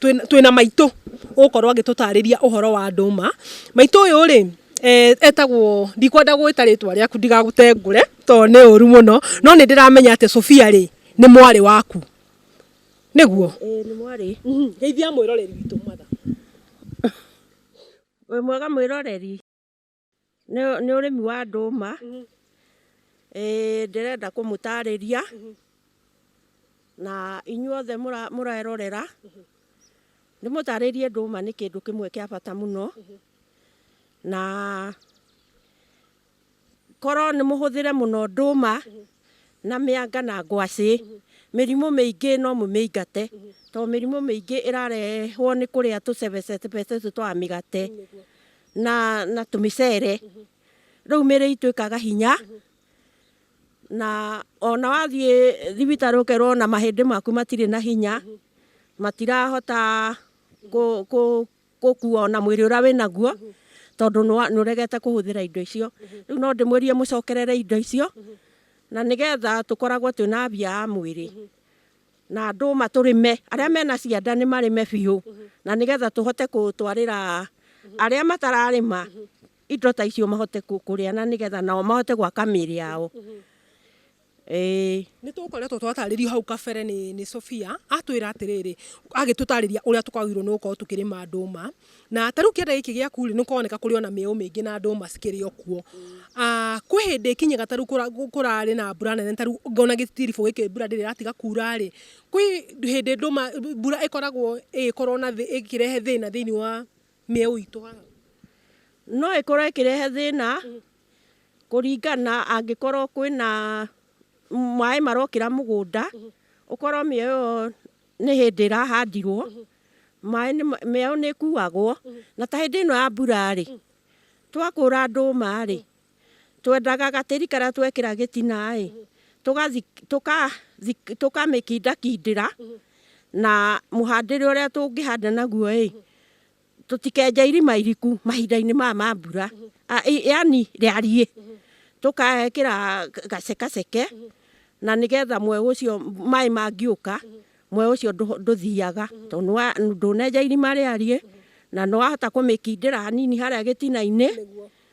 twĩna maitũ ũgũkorwo agĩtũtarĩria ũhoro wa ndũma maitũ ũyũ rĩ eh, etagwo ndikwenda gwĩta rĩtwa rĩaku ndigagũtengũre tondũ nĩ ũru mũno no nĩ ndĩramenya atĩ Sofia rĩ nĩ mwarĩ waku nĩguo nĩ mwarĩ mhm, geithia mwĩroreri witũ matha wĩ mwega mwĩroreri Nĩ nĩ ũrĩmi wa ndũma. Ĩĩ ndĩrenda kũmũtarĩria na inyuothe mũra- mũrerorera ndĩmũtarĩrie ndũma nĩ kĩndũ kĩmwe kĩa bata mũno na korwo nĩ mũhũthĩre mũno ndũma na mĩanga na ngwacĩ mĩrimũ mĩingĩ no mũmĩingate to mĩrimũ mĩingĩ ĩrarehwo nĩ kũrĩa tũcebecebe tũtũ twa mĩgate. na na tumicere riu miri itu ikaga hinya na ona wathie thibitari ukerwo ona mahindi maku matiri na hinya matirahota gukua ona mwiri uria winaguo tondu niuregete kuhuthira indo icio riu no ndimwirie mucokerere indo icio na nigetha tukoragwo twina afya ya mwiri. na ndũma tũrĩme, arĩa mena cianda nĩ marĩme biũ, na nĩgetha tũhote kũtwarĩra arĩa matararĩma indo ta icio mahote kũrĩa na nĩgetha nao mahote gwaka mĩĩrĩ yao. Nĩ tũkoretwo twatarĩrio hau kabere nĩ Sophia, atwĩra atĩrĩrĩ, agĩtũtarĩria ũrĩa twagĩrĩirwo nĩ gũkorwo tũkĩrĩma ndũma, Na ta rĩu kĩanda gĩkĩ gĩaku-rĩ, nĩ kũroneka kũrĩ ona mĩeũ mĩingĩ na ndũma cikĩrĩ o kuo. Ah, kwĩ hĩndĩ ĩkinyĩga ta rĩu kũrarĩ na mbura nene ta rĩu ngona gĩtiribũ gĩkĩ mbura ndĩrĩ ĩratiga kuura-rĩ, kwĩ hĩndĩ ndũma mbura ĩkoragwo ĩgĩkorwo na ĩkĩrehe thĩna thĩiniĩ wa mĩeũ itũ haha? No ĩkorwo ĩkĩrehe thĩna, kũringana angĩkorwo kwĩna maĩ marokĩra mũgũnda, ũkorwo mĩeũ ĩyo nĩ hĩndĩ ĩrahandirwo maĩ mĩao nĩ ĩkuagwo na ta hĩndĩ ĩno ya mbura-rĩ twakũra ndũma-rĩ twendaga gatĩri karĩa twekĩra gĩtina-ĩ tũkamĩkindakindĩra na mũhandĩre ũrĩa tũngĩhanda naguo-ĩ tũtikenja irima iriku mahinda-inĩ maya ma mbura yani rĩariĩ tũkekĩra gacekaceke na nĩgetha mweũ ũcio maĩ mangĩũka mweũ ũcio ndũthiaga tondũ ndũnenja irima rĩariĩ na nĩwahota kũmĩkindĩra hanini harĩa gĩtina-inĩ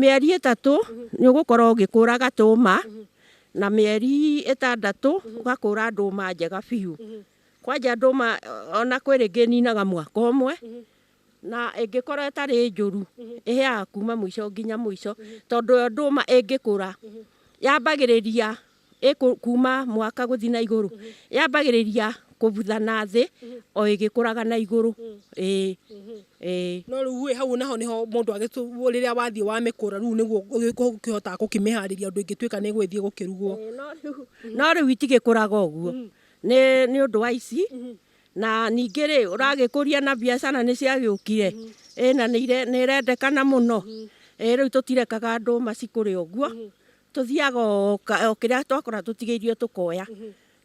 mĩeri ĩtatũ nĩ ũgũkorwo ũgĩkũra gatũma na mĩeri ĩtandatũ ũgakũra ndũma njega biũ. Kwanja ndũma ona kwĩ rĩngĩ ĩninaga mwaka ũmwe na ĩngĩkorwo ĩtarĩ njũru ĩhĩaga kuma mũico nginya mũico tondũ yo ndũma ĩngĩkũra yambagĩrĩria ĩ kuuma mwaka gũthi na igũrũ yambagĩrĩria kũbutha na thĩ o ĩgĩkũraga na igũrũ ĩĩ ĩĩ. No rĩu ĩ hau naho nĩho mũndũ agĩtũ rĩrĩa wathiĩ wamĩkũra rĩu nĩguo ũkĩhotaga gũkĩmĩharĩria ũndũ ĩngĩtuĩka nĩ ĩgũgĩthiĩ gũkĩrugwo. No rĩu itigĩkũraga ũguo nĩ nĩ ũndũ wa ici na ningĩ rĩ ũragĩkũria na biacara nĩ ciagĩũkire ĩĩ na nĩ irendekana mũno ĩĩ rĩu tũtirekaga andũ macikũre ũguo. Tũthiaga o ka- o kĩrĩa twakora tũtigĩirio tũkoya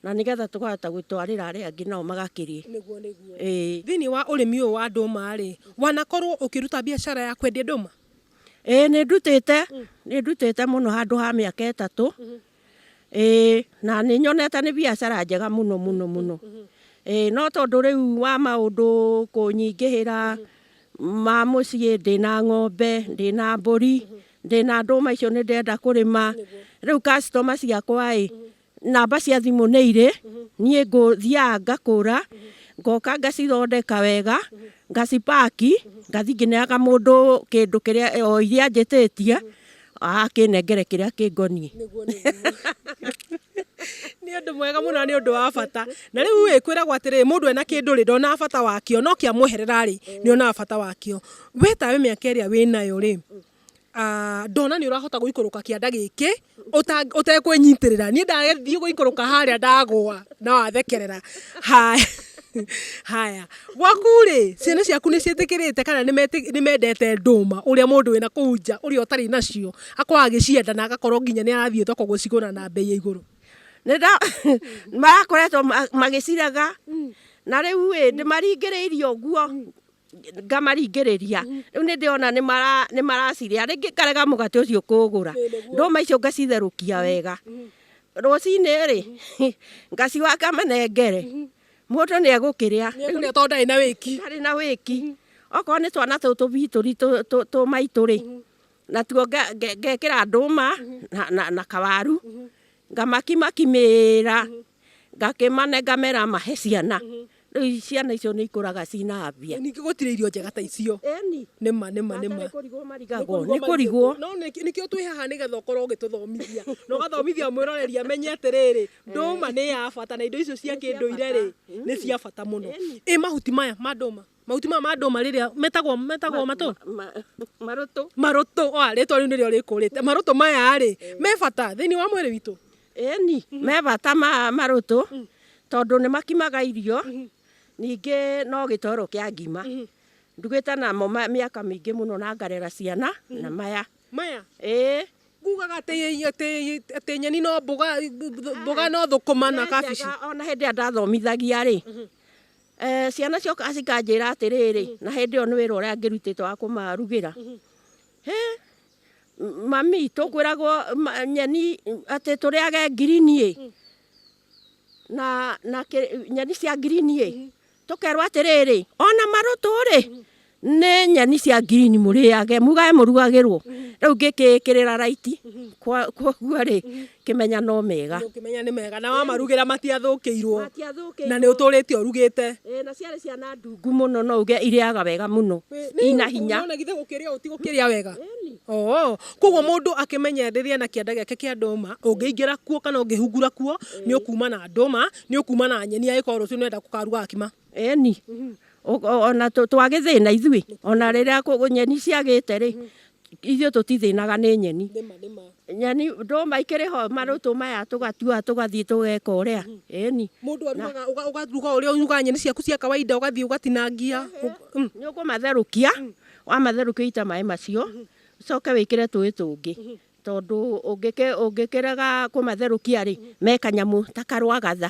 na nĩgetha tũkahota gũtwarĩra arĩa angĩ nao magakĩrĩe. Ĩĩ. Thĩinĩ wa ũrĩmi ũyũ wa ndũma rĩ, wanakorwo ũkĩruta biacara ya kwendia ndũma? Ĩĩ nĩ ndutĩte, nĩ ndutĩte mũno handũ ha mĩaka ĩtatũ. Ĩĩ na nĩ nyonete nĩ biacara njega mũno mũno mũno. Ĩĩ no tondũ rĩu wa maũndũ kũnyingĩhĩra ma mũciĩ, ndĩna ng'ombe, ndĩna mbũri, ndĩna ndũma icio nĩ ndĩrenda kũrĩma rĩu customer ciakwa ĩ namba cia thimũ nĩ irĩ niĩ ngũthiaga ngakũra ngoka ngacithondeka wega ngacipaki ngathi ngĩneaga mũndũ kĩndũ kĩrĩa o iria njĩtĩtie akĩnengere kĩrĩa kĩngoniĩ nĩ ũndũ mwega mũno nĩ ũndũ wa bata na rĩu ĩ kwĩragwo atĩrĩ mũndũ ena kĩndũ rĩ ndonaga bata wakĩo no kĩamweherera rĩ nĩ onaga bata wakĩo We tawe mĩaka ĩrĩa wĩ nayo rĩ, ah, ndona nĩ ũrahota gũikũrũka kĩanda gĩkĩ ũta- ũtekwĩnyitĩrĩra niĩ ndathiĩ gũikũrũka harĩa ndagũa na wathekerera haya haya gwaku rĩ ciana ciaku nĩ ciĩtĩkĩrĩte kana nĩ meti- nĩ mendete ndũma ũrĩa mũndũ wĩna kũu nja ũrĩa ũtarĩ nacio akorwo agĩcienda na agakorwo nginya nĩ arathiĩ thoko gũcigũra na mbei ya igũrũ nĩnda marakoretwo ma- magĩciraga na rĩu ĩ ndĩmaringĩrĩirie ũguo ngamaringĩrĩria rĩu nĩ ndĩona nĩ mara- nĩ maracirĩa rĩngĩ ngarega mũgate ũcio kũgũra ndũma icio ngacitherũkia wega rũcinĩ rĩ ngaciwa ngamenengere mũndũ nĩ egũkĩrĩa rĩu nĩ tondũ ndarĩ na wĩki ndarĩ na wĩki okorwo nĩ twana tũu tũbitũri tũ- tũ- tũmaitũ rĩ natuo nge- nge- ngekĩra ndũma na- na- na kawaru Ngamakimakimĩra, ngakĩmanenga mera mahe ciana. Rĩu i- ciana icio nĩ ikũraga cina mbia. ningĩ gũtirĩ irio njega ta icio Eni, nĩma nĩma nĩma nĩ kũrigwo marigagwo, nĩ kũrigwo. no nĩkĩ- nĩkĩo twĩ haha nĩgetha ũkorwo ũgĩtũthomithia na ũgathomithia mwĩroreri amenye atĩrĩrĩ ndũma nĩ ya bata na indo icio cia kĩndũire rĩ nĩ cia bata mũno ĩ mahuti maya ma ndũma Mahuti maya ma ndũma rĩrĩa metagwo metagwo matũ marũtũ marũtũ oa rĩtwa rĩu nĩrĩo rĩkũrĩte marũtũ maya rĩ eh. me bata thĩinĩ wa mwĩrĩ witũ ĩni mhm. me bata ma marũtũ mhm. tondũ nĩ makimaga irio mhm. ningĩ no gĩtoro kĩa ngima ndugĩte namo mĩaka mĩingĩ mũno na ngarera ciana na maya maya ĩĩ kugaga atä nyeni no mboga no thå kå ma na kabici ona hä ndä ä a ndathomithagia rä Eh, ciana cioka cikanjĩra atĩrĩrĩ na hĩndĩ ĩyo nĩ wĩra ũrĩa ngĩrutĩte wa kũmarugĩra hĩ m- mami tũkwĩragwo ma- nyeni atĩ tũrĩage ngirini ĩ na na kĩ- nyeni cia ngirini ĩ tũkerwo atĩrĩrĩ ona marũtũ rĩ nä nyeni cia ngirini må rä age mugae må rugagä rwo rä u ngä kä kä rä ra raiti koguo rä kä menya no mega ũkĩmenya nĩ mega na wamarugĩra matiathũkĩirwo na nĩ ũtũrĩte ũrugĩte na ciarä ciana ndungu må no no uge irĩaga wega må no ina hinya Nĩwona githĩ gũkĩrĩa ũũ ti gũkĩrĩa wega oo koguo mũndũ akĩmenye rĩrĩa na kĩanda gĩake kĩa ndũma ũngĩingĩra kuo kana ũngĩhungura kuo nĩ ũkuma na ndũma nĩ ũkuma na nyeni angĩkorwo rũciũ nĩ ũrenda gũkaruga ngima Eni, O- o- ona tũ- twagĩthĩna ithuĩ ona rĩrĩa kũ- nyeni ciagĩte rĩ ithuĩ tũtithĩnaga nĩ nyeni nyeni ndũma ikĩrĩ ho marũtũ maya tũgatua tũgathiĩ tũgeka ũrĩa ĩni Mũndũ arugaga ũga- ũgaruga ũrĩa ũrugaga nyeni ciaku cia kawaida ũgathiĩ ũgatinangia. Ũ- nĩ ũkũmatherũkia wamatherũkia ũite maĩ macio ũcoke wĩkĩre tũĩ tũngĩ tondũ ũngĩkĩ- ũngĩkĩrega kũmatherũkia rĩ me kanyamũ ta karwagatha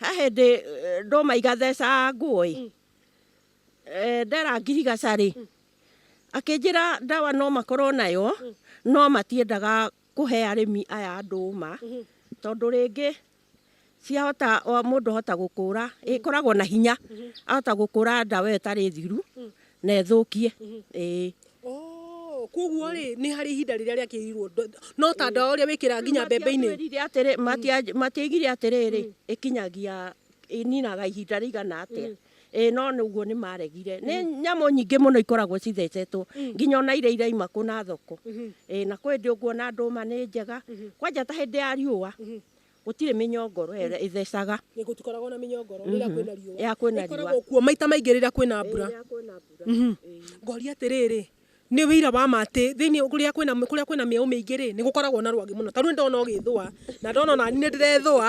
He hĩndĩ eh, ndũma igatheca nguo-ĩ mm. eh, ndera ngirigaca-rĩ mm. akĩnjĩra ndawa no makorwo nayo mm. no matiendaga kũhe arĩmi aya ndũma mm-hmm. tondũ rĩngĩ ciahota mũndũ ahota gũkũra ĩkoragwo na hinya mm-hmm. ahota gũkũra ndawa ĩtarĩ thiru na ĩthũkie ĩĩ Oh, koguo rĩ nĩ harĩ ihinda rĩrĩa rĩakĩrirwo no ta ndawa ũrĩa wĩkĩra nginya mbembe-inĩ Matiatwĩrire atĩrĩ- matia- matiaigire atĩrĩrĩ ĩkinyagia ĩninaga ihinda rĩigana atĩa ĩĩ no nĩ ũguo nĩ maregire nĩ nyamũ nyingĩ mũno ikoragwo cithecetwo nginya ona iria iraima kũ na thoko ĩĩ na kwĩ hĩndĩ ũkuona ndũma nĩ njega kwanja ta hĩndĩ ya riũa Gũtirĩ mĩnyongoro ĩrĩa ĩthecaga. Gũtikoragwo na mĩnyongoro rĩrĩa kwĩna riũa. Rĩrĩa kwĩna riũa. Ĩkoragwo kuo maita maingĩ rĩrĩa kwĩna mbura. Rĩrĩa kwĩna mbura. Ngoria atĩrĩrĩ, nĩ ũira wa ma atĩ thĩinĩ kũrĩa kwĩna kũrĩa kwĩna mĩeũ mĩingĩ-rĩ, nĩ gũkoragwo na rwagĩ mũno? Ta rĩu nĩ ndĩrona ũgĩĩthũa, na ndona o naniĩ nĩ ndĩreethũa,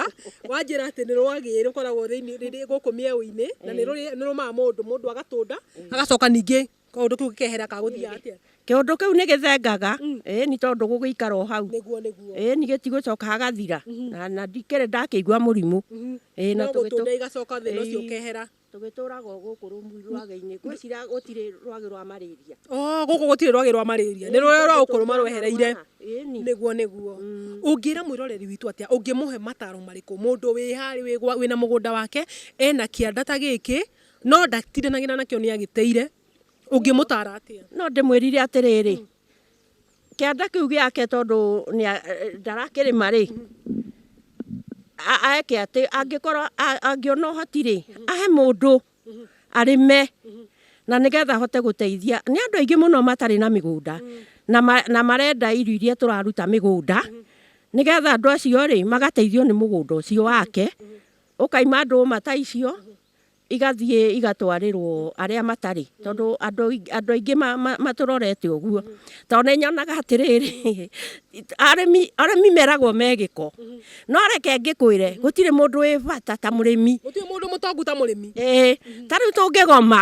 wanjĩra atĩ nĩ rwagĩ rũkoragwo thĩinĩ gũkũ mĩeũ-inĩ, na nĩ rũrĩ nĩ rũrũmaga mũndũ, mũndũ agatũnda, agacoka ningĩ... Kaũndũ kĩu gĩkehera kagũthiaga atĩa? Kĩũndũ kĩu nĩ gĩthengaga mm. ĩĩ ni tondũ gũgĩikara o hau ĩĩ ni gĩtigũcoka hagathira mm-hmm. na na ndikĩrĩ ndakĩigua mũrimũ mm-hmm. ĩĩ na tũgĩtũra igacoka thĩna ũcio ũkehera tũgĩtũraga gũkũ rũmuri rwagĩ-inĩ ngwĩciria gũtirĩ rwagĩ rwa marĩria oh, gũkũ gũtirĩ rwagĩ rwa marĩria nĩ rũrĩa rwa ũkũrũma rwehereire nĩguo nĩguo mm. ũngĩra mwĩroreri witũ atĩa ũngĩmũhe mataro marĩkũ mũndũ wĩ harĩ wĩna mũgũnda wake ena kĩanda ta gĩkĩ No ndatiranagĩra nakĩo nĩ agĩteire. Ũngĩmũtara atĩa? No ndĩmwĩrire atĩrĩrĩ, kĩanda kĩu gĩake tondũ ndarakĩrĩma rĩ, eke atĩ, angĩkorwo angĩona ũhoti rĩ, ahe mũndũ arĩme na nĩgetha ahote gũteithia. Nĩ andũ aingĩ mũno matarĩ na mĩgũnda na marenda irio iria tũraruta mĩgũnda nĩgetha andũ acio rĩ, magateithio nĩ mũgũnda ũcio wake. Ũkaima ndũma ta icio. igathiĩ igatwarĩrwo arĩa matarĩ tondũ andũ andũ aingĩ ma- ma- matũrorete ũguo tondũ nĩ nyonaga atĩrĩrĩ arĩmi arĩmi meragwo me gĩko no reke ngĩkwĩre gũtirĩ mũndũ wĩ bata ta mũrĩmi gũtirĩ mũndũ mũtongu ta mũrĩmi ĩĩ ta rĩu tũngĩgoma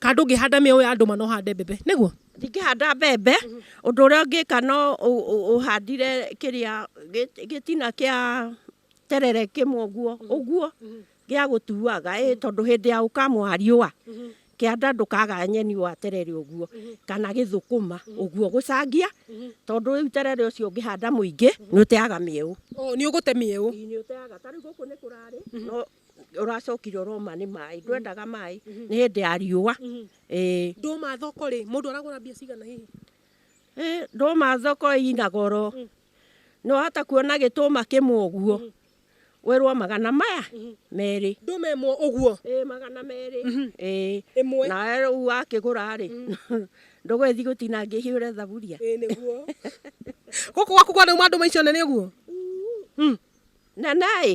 kana ndũngĩhanda mĩoyo ya ndũma no hande mbembe nĩguo ndingĩhanda mbembe ũndũ ũrĩa ũngĩka no ũ- ũ- ũhandire kĩrĩa gĩ- gĩtina kĩa terere kĩmwe ũguo ũguo gĩa gũtuaga ĩ tondũ hĩndĩ ya ũkamwa riũa kĩanda ndũkaga nyeni wa terere ũguo kana gĩthũkũma ũguo gũcangia tondũ rĩu terere ũcio ũngĩhanda mũingĩ nĩ ũteaga mĩeũ Ũ, nĩ ũgũte mĩeũ nĩ ũteaga tarĩu gũkũ nĩ kũrarĩ no ũracokire ũroma nĩ maĩ ndwendaga maĩ nĩ hĩndĩ ya riũa ĩĩ ndũma thoko rĩ mũndũ aragũra mbia cigana hihi Ĩ, ndũma thoko ina goro nĩ wahota kuona gĩtũma kĩmwe ũguo wĩrwo magana maya merĩ ndũma ĩmwe ũguo Ĩ, magana merĩ Ĩ, ĩmwe nawe rĩu wakĩgũra rĩ ndũgũgĩthiĩ gũtinangia ihĩũre thaburia ĩĩ nĩguo gũkũ gwaku kwanauma ndũma icio nene ũguo nene ĩ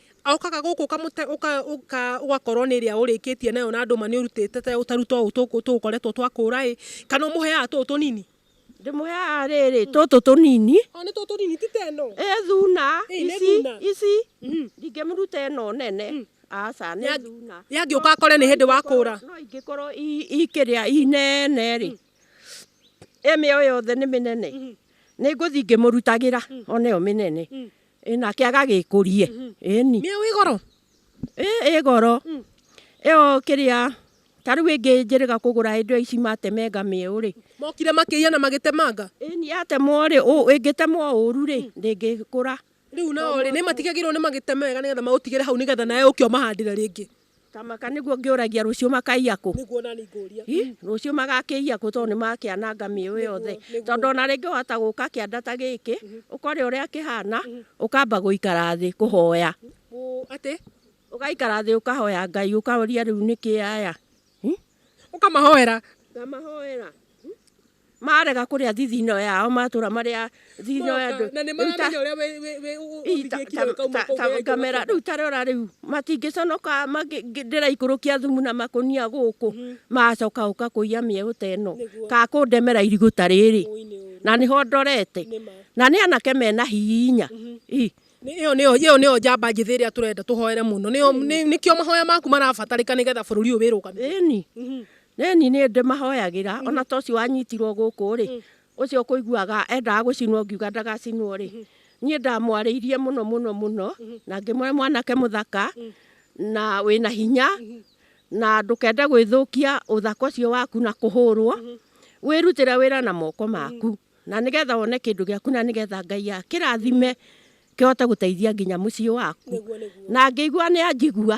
Aukaga gũkũ ũkamũte ũka- ũka- ũgakorwo nĩ ĩrĩa ũrĩkĩtie nayo na ndũma nĩ ũrutĩte te- ũtaru tũũ tũkũ- tũgũkoretwo twakũra ĩ kana ũmũheaga tũũ tũnini ndĩmũheaga rĩrĩ tũtũ tũnini o nĩ tũũ tũnini ti teno ĩ thuna Ĩ, nĩ ici thuna. ici ndingĩmũruta ĩno nene aca nĩ Ya- thuna yangĩũka akore nĩ hĩndĩ wakũra no ingĩkorwo i- ikĩrĩa inene rĩ ĩmĩo yothe nĩ mĩnene nĩ ngũthi ngĩmũrutagĩra oneyo mĩnene Ĩ nake agagĩkũrie ĩni Nĩ wĩ goro. ĩ ĩ goro ĩyo kĩrĩa ta rĩu ĩngĩ njĩrĩga kũgũra hĩndĩ ĩyo ici matemenga mĩeũ rĩ Mokire makĩiya na magĩtemanga. ĩni yatemwo rĩ ũ- ĩngĩtemwo ũru rĩ ndĩngĩkũra Rĩu nao rĩ nĩ matigagĩrwo nĩ magĩtemega nĩgetha maũtigĩre hau nĩgetha nawe ũke ũmahandĩre rĩngĩ. Kamaka nĩguo ngĩũragia rũciũ makaiya kũ? Nĩguo nani ngũria. Rũciũ magakĩiya kũ tondũ nĩmakĩananga mĩũ yothe. Tondũ ona rĩngĩ wahota gũka kĩanda ta gĩkĩ, ũkore ũrĩa kĩhana, ũkamba gũikara thĩ kũhoya. Atĩ? Ũgaikara thĩ ũkahoya Ngai ũkaũria rĩu nĩkĩ aya. Ũkamahoera? Ngamahoera. Marega kũrĩa thithino yao matũra marĩa thithino ya andũ. Na nĩ maramenya ũrĩa ũthigĩkire ũkauma kũu wega ngamera rĩu tarora rĩu matingĩconoka ndĩraikũrũkia thumu na makũnia gũkũ mhm. macoka ũka kũiya mĩeũ ta ĩno ka kũndemera irigũ ta rĩrĩ na nĩho ndorete na nĩ anake mena hinya mhm. Iyo niyo iyo niyo njamba njithi iria turenda tuhoere muno niyo nikio mahoya maku marabatarika nigetha bururi uyu wirugamire. Ĩni. Mhm. Nĩ niĩ nĩ ndĩmahoyagĩra, ona ta ũcio wanyitirwo gũkũ rĩ, ũcio ũkũiguaga endaga gũcinwo ngiuga ndagacinwo rĩ, niĩ ndamwarĩirie mũno mũno mũno, na ngĩmwĩra mwanake mũthaka, na wĩna hinya, na ndũkende gwĩthũkia ũthaka ũcio waku na kũhũrwo, wĩrutĩre wĩra na moko maku, na nĩgetha wone kĩndũ gĩaku na nĩgetha Ngai akĩrathime kĩhote gũteithia nginya mũciĩ waku. Na ngĩigua nĩ anjigua,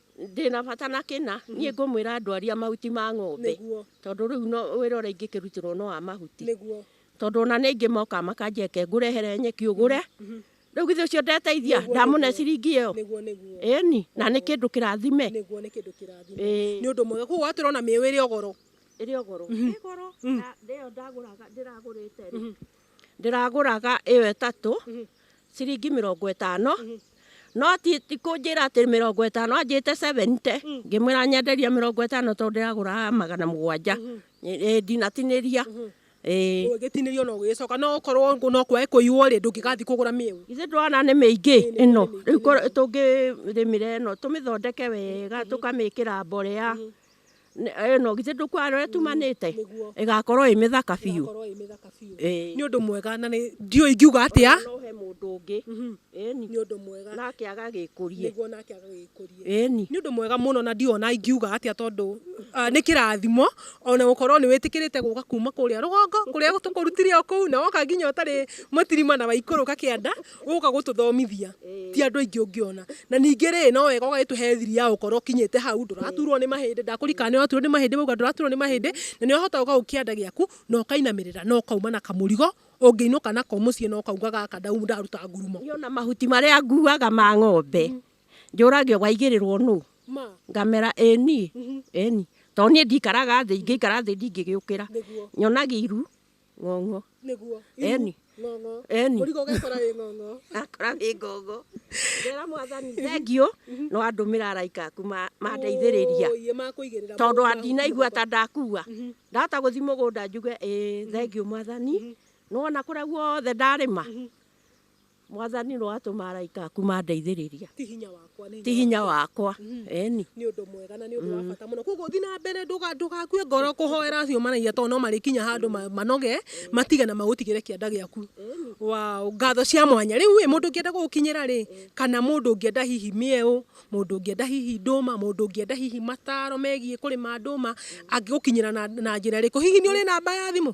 ndĩna bata na kĩna niĩ ngũmwĩra ndwaria mahuti ma ng'ombe Nĩguo. tondũ rĩu no wĩra ũrĩa ingĩkĩrutĩrwo no wa mahuti nĩguo tondũ ona nĩ ingĩ moka makanjeke ngũrehere nyeki ũgũre rĩu githĩ ũcio ndeteithia Nĩguo, ndamũne nĩguo. ciringi ĩyo nĩguo nĩguo ĩni na nĩ kĩndũ kĩrathime nĩguo nĩ kĩndũ kĩrathime Ĩĩ. nĩ ũndũ mwega koguo watwĩra ona mĩĩũ ĩrĩ ogoro ĩrĩ ogoro ĩgoro na ndĩyo ndagũraga ndĩragũrĩte rĩ ndĩragũraga ĩyo ĩtatũ ciringi mĩrongo ĩtano no ti ti kũnjĩra atĩ mĩrongo ĩtano anjĩte 70 ngĩmwĩra nyenderia mĩrongo ĩtano tondũ ndĩragũraga magana mũgwanja Ĩ- ĩ, ndinatinĩria Ĩ. ũgĩtinĩrio no ũgĩcoka no okorwo ngũ- no kwae kũiywo rĩ ndũngĩgathiĩ kũgũra mĩu ithe ndwana nĩ mĩingĩ ĩno rĩu korwo tũngĩrĩmĩra ĩno tũmĩthondeke wega tũkamĩkĩra mborea ĩno githĩ ndũkwara ũrĩa tumanĩte ĩgakorwo ĩ mĩthaka biũ nĩ ũndũ mwega na nĩ ndiũĩ ingiuga atĩa he mũndũ ũngĩ ĩni nĩ ũndũ mwega nake agagĩkũrie nĩguo nake agagĩkũrie ĩni nĩ ũndũ mwega mũno na ndiona ingiuga atĩa tondũ ah, nĩ kĩrathimo ona gũkorwo nĩ wĩtĩkĩrĩte gũka kuma kũrĩa rũgongo kũrĩa tũkũrutire o kũu na woka nginya ũtarĩ mũtirima na waikũrũka kĩanda ũka gũtũthomithia ti andũ aingĩ ũngĩona na ningĩ rĩ no wega ũgagĩtũhe thiri ya gũkorwo kinyĩte hau ndũraturwo nĩ mahĩndĩ ndakũrikana nĩ waturwo nĩ mahĩndĩ wauga ndũraturwo nĩ mahĩndĩ na nĩ wahota gũka gũkĩanda gĩaku na ũkainamĩrĩra na ũkauma na kamũrigo ũngĩinũka nako mũciĩ na ũkauga gaka ndau- ndaruta ngurumo Niĩ ona mahuti marĩa nguaga ma ng'ombe njũragio waigĩrĩrwo nũ ma ngamera ĩ niĩ ĩ niĩ tondũ niĩ ndikaraga thĩ ingĩikara thĩ ndingĩgĩũkĩra nyonagia iru ng'ong'o nĩguo Eni. ng'ong'o Eni. mũrigo ũgekora wĩ ng'ong'o akora wĩ ng'ong'o ngera mwathani thengiũ no andũmĩra araika aku ma- mandeithĩrĩria Ũũi, makũigĩrĩra tondũ mũndũ andinaigua ta ndakua ndahota gũthi mũgũnda njuge ĩ thengiũ mwathani nĩwona kũrĩa guothe ndarĩma mwathani no atũma araika aku mandeithĩrĩria ti hinya wakwa nĩ ti hinya wakwa eni nĩ ũndũ mwega na nĩ ũndũ wa bata mũno koguo thiĩ na mbere ndũga- ndũgakue ngoro kũhoera acio maragia tondũ no marĩkinya handũ ma- manoge matige na magũtigĩre kĩanda gĩaku wa ngatho cia mwanya rĩu ĩ mũndũ ũngĩenda gũgũkinyĩra rĩ kana mũndũ ũngĩenda hihi mĩeũ mũndũ ũngĩenda hihi ndũma mũndũ ũngĩenda hihi mataro megiĩ kũrĩma ndũma angĩgũkinyĩra na, na njĩra ĩrĩkũ hihi nĩ ũrĩ namba ya thimũ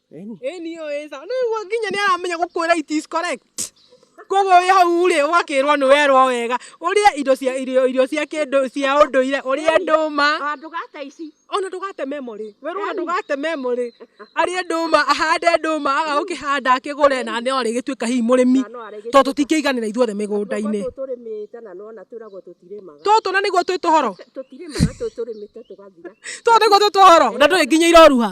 Ĩni ũĩ sawa. Rĩu ũguo nginya nĩ aramenya gũkwĩra it is correct. Koguo wĩ hau rĩ ũgakĩrwo nĩ werwo wega ũrĩe indo cia irio irio cia kĩndũ cia ũndũire ũrĩe ndũma. Ona ndũgate ici. Ona ndũgate memo rĩ. Werwo ona ndũgate memo rĩ. Arĩe ndũma ahande ndũma aga gũkĩhanda akĩgũre na no arĩgĩtuĩka hihi mũrĩmi. Tondũ tũtingĩiganĩra ithuothe mĩgũnda-inĩ. Tũtũ tũrĩmĩte na nona twĩragwo tũtirĩmaga. Tũtũ na nĩguo twĩ tũhoro. Tũtirĩmaga tũtũ tũrĩmĩte tũgathira. Tũtũ nĩguo twĩ tũhoro na ndũrĩ nginya iroruha.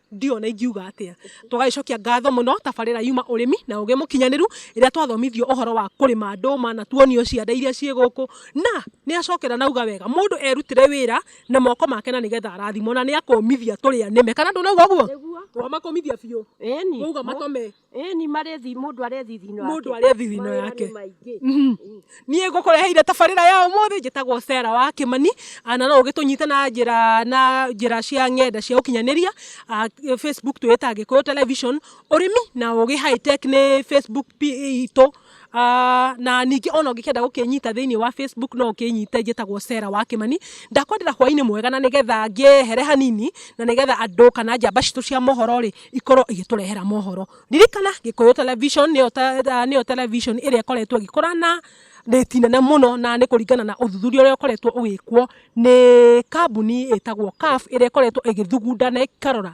ndiona ingiuga atia twagagĩcokia ngatho mũno tabarĩra yuma ũrĩmi na ũgĩ mũkinyanĩru ĩrĩa twathomithio ũhoro wa kũrĩma ndũma na tuonio cianda iria ciĩ gũkũ na nĩ acokera nauga wega mũndũ erutĩre wĩra na moko make na nĩgetha arathimwo na nĩ akũmithia tũrĩa nĩme kana ndũnauga ũguo twamakũmithia biũ wauga matome Ĩni marĩthi mũndũ arethi thino yake. Mũndũ arethi thino yake. Mhm. Niĩ ngũkũreheire tabarĩra ya ũmũthĩ njĩtagwo Sera wa Kĩmani ah, na no ũgĩtũnyite na njĩra na njĩra cia ng'enda cia ũkinyanĩria ah, Facebook twĩta Gĩkũyũ Television. Ũrĩmi na ũgĩ high tech nĩ Facebook itũ. Ah, na ningĩ ona ũngĩkenda gũkĩnyita thĩinĩ wa facebook no ũkĩnyite njĩtagwo Sarah wa Kĩmani ndakwendera hwainĩ mwega na nĩgetha ngĩehere hanini na nĩgetha andũ kana njamba citũ cia mohoro rĩ ikorwo igĩtũrehera mohoro ririkana gĩkũyũ television nĩyo te- ah, nĩyo television ĩrĩa ĩkoretwo ĩgĩkũra na rĩti nene mũno na nĩ kũringana na ũthuthuria ũrĩa ũkoretwo ũgĩkwo nĩ kambuni ĩtagwo CAF ĩrĩa ĩkoretwo ĩgĩthugunda na ĩkarora